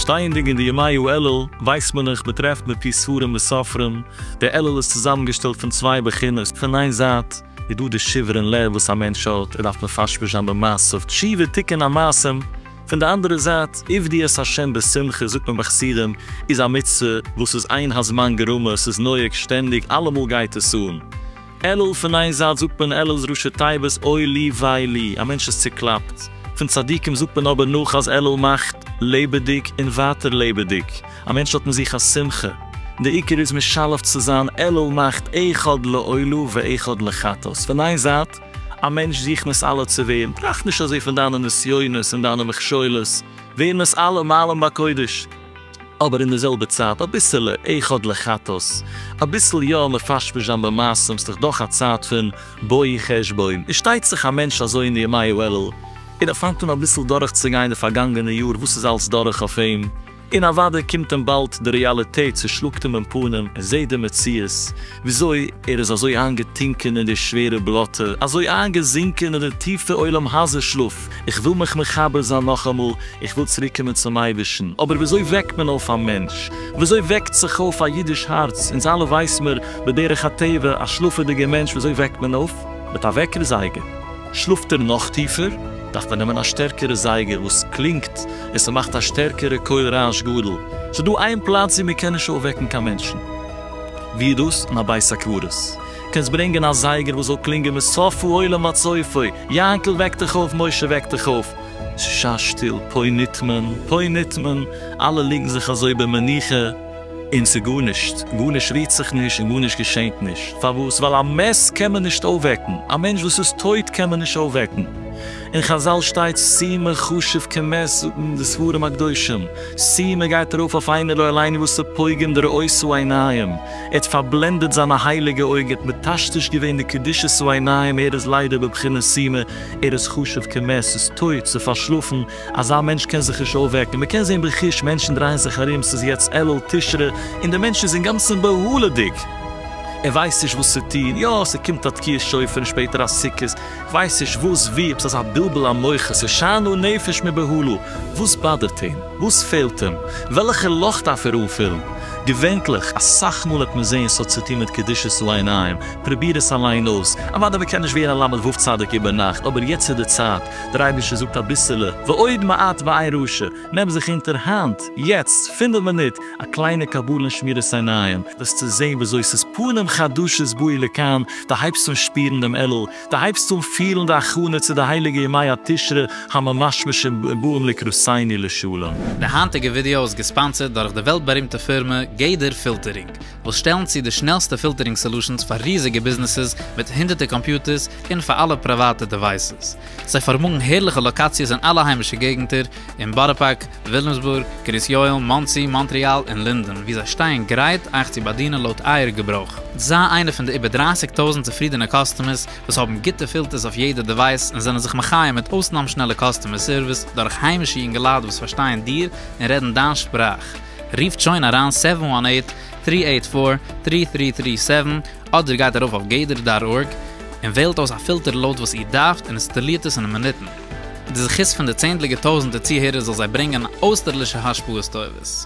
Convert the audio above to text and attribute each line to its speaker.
Speaker 1: שטייענדיג אין די ימיו אלה ווייסט מען נאך מ'טרעפט מפי ספרים וסופרים, די אלה איז צוזאמענגעשטעלט פון צוויי בחינות, פון איין זייט איז דא די שברון לב וואס א מענטש האט, ער דארף מפשפש זיין במעשיו, תשובה תיקון המעשים, פון די אנדערע זייט, עבדו את ה' בשמחה זאגט מען ביי חסידים איז א מצוה וואס איז אין הזמן גרמא, ס'איז נוהג שטענדיג, אלעמאל גייט עס אן. אלול פון איין זייט זאגט מען אלול ראשי תיבות אוי לי וויי לי, א מענטש איז צוקלאפט. פון צדיקים זאגט מען אבער נאך אז אלול מאכט לעבעדיג און ווייטער לעבעדיג, א מענטש האט אין זיך א שמחה. די עיקר איז משלב צו זיין אלול מאכט איכא דלעולא ואיכא דלחטא. ס'פון איין זייט. א מענטש זיך מסלף צו ווערן, טראכט נישט אזוי פון דיינע נסיונות און דיינע מכשולות, ווערן אונז אלע מעלים בקודש, אבער אין די זעלבע צייט אביסעלע איכות לחטות, אביסל יא מפשפש זיין במעשים, ס'דאך דאך א צייט פון בואי חשבון, איז שטייט זיך א מענטש אזוי אין די ימי האלול, און ער פאנגט אן אביסל דורך צו גיין די פארגאנגענע יאר וואס איז אלס דורך אויף אים, און אוודאי קומט אים באלד די רעאליטעט צושלאגט אים אין פנים און זעהט די מציאות וויאזוי ער איז אזוי איינגעטונקען אין די שווערע בלאטע, אזוי איינגעזינקען אין די טיפע עולם הזה שלאף, איך וויל מיך מחבר זיין נאכאמאל, איך וויל צוריק קומען צום אייבערשטן, אבער וויאזוי וועקט מען אויף א מענטש? וויאזוי וועקט זיך אויף א אידיש הארץ? אונז אלע ווייס מיר בדרך הטבע, א שלאפעדיגע מענטש וויאזוי וועקט מען אויף? מיט א וועקער זייגער. שלאפט ער נאך טיפער, דארף מען נעמען א שטערקערע זייגער וואס קלינגט און ס'מאכט א שטערקערע קול רעש גדול, ס'דא איין פלאץ ווי מ'קען נישט אויפוועקן קיין מענטשן, ווי איז דאס? אין א בית הקברות, קענסט ברענגען א זייגער וואס זאל קלינגען מסופו עולם ועד סופו, יענקל וועק דיך אויף, משה וועק דיך אויף, ס'איז שא שטיל, פוי ניט מען, פוי ניט מען, אלע ליגן זיך אזוי במנוחה. און ס'גארנישט, גארנישט רירט זיך נישט און גארנישט געשענט נישט. פארוואס? ווייל א מת קען מען נישט אויפוועקן, א מענטש וואס איז טויט קען מען נישט אויפוועקן. אין חזל שטייט סימא חשוב כמת זאגן די ספרים הקדושים, סימא גייט ארויף אויף איינער לא עלינו וואס איז פוגם דרעותו עיניים, ער האט פארבלענדעט זיינע הייליגע אויגן, ער האט מטשטש געווען די קדושתו עיניים, ער איז ליידער בבחינת סימא, ער איז חשוב כמת, ס'איז טויט, ס'איז פארשלאפן, אזא מענטש קען זיך נישט אויפוועקן, מ'קען זען בחוש מענטשן דרייען זיך ארום, ס'איז יעצט אלול תשרי און דער מענטש איז אינגאנצן בהלה'דיג, ער ווייסט נישט וואס צו טון, יא ס'קומט א תקיעת שופר און שפעטער א סוכות, כ'ווייס נישט וואס וואו, עפעס אזא בלבול המוחות, ס'איז שאנאר נפש מבהלה, וואס באדערט אים? וואס פעלט אים? וועלכע לאך דארף ער אנפילן? געווענטליך, אסאך מאל וועט מען זען ס'האט צו טון מיט קדושת צו עיניים, פרוביר עס אליין אויס, אוודאי מ'קען נישט ווערן א למד ו' צדיק איבער נאכט, אבער יעצט איז די צייט, דער אייבערשטער זאגט אביסעלע ועוד מעט ועין ראשע, נעם זיך אונטער היינט, יעצט, פינף מינוט, א קליינע קבלה און שמירת עיניים, וועסטו זען וויאזוי ס'איז פנים חדשות באי לכאן, דו הייבסט אן שפירן דעם אלול, דו הייבסט אן פילן די הכנה צו די הייליגע ימי התשרי הממשמשים ובאים לקראתינו לשלום. די היינטיגע ווידעא
Speaker 2: איז געספאנסערד דורך די וועלט בארימטע פירמע גדר פילטערינג, וואס שטעלן צו די שנעלסטע פילטערינג סעלושענס פאר ריזיגע ביזנעסעס מיט הונדערטער קאמפיוטערס און פאר אלע פריוואטע דעווייסעס. זיי פארמאגן הערליכע לאקאציעס אין אלע היימישע געגנטער, אין בארא פארק, וויליאמסבורג, קרית יואל, מאנסי, מאנטריאל און לינדען, וואו זיי שטייען גרייט אייך צו באדינען לויט אייער געברויך. זיי איינע פון די איבער דרײַסיק טויזנט צופרידענע קאסטומערס וואס האבן גוטע פילטערס אויף יעדע דעווייס און זענען זיך מחיה מיט אויסנאם שנעלע קאסטומער סערוויס דורך היימישע יונגעלייט וואס פארשטייען דיר און רעדן דיין שפראך. רופט שוין אריין סעווען וואן עיט, טרי עיט פאר, טרי טרי טרי סעווען, אדער גייט ארויף אויף גדר דאט ארג, און וועלט אויס א פילטער לויט וואס איר דארפט און אינסטאלירט עס אין מינוטן. די זכות פון די צענדליגע טויזנטער צוהערער זאל זיי ברענגען אויסטערלישע השפעות טובות.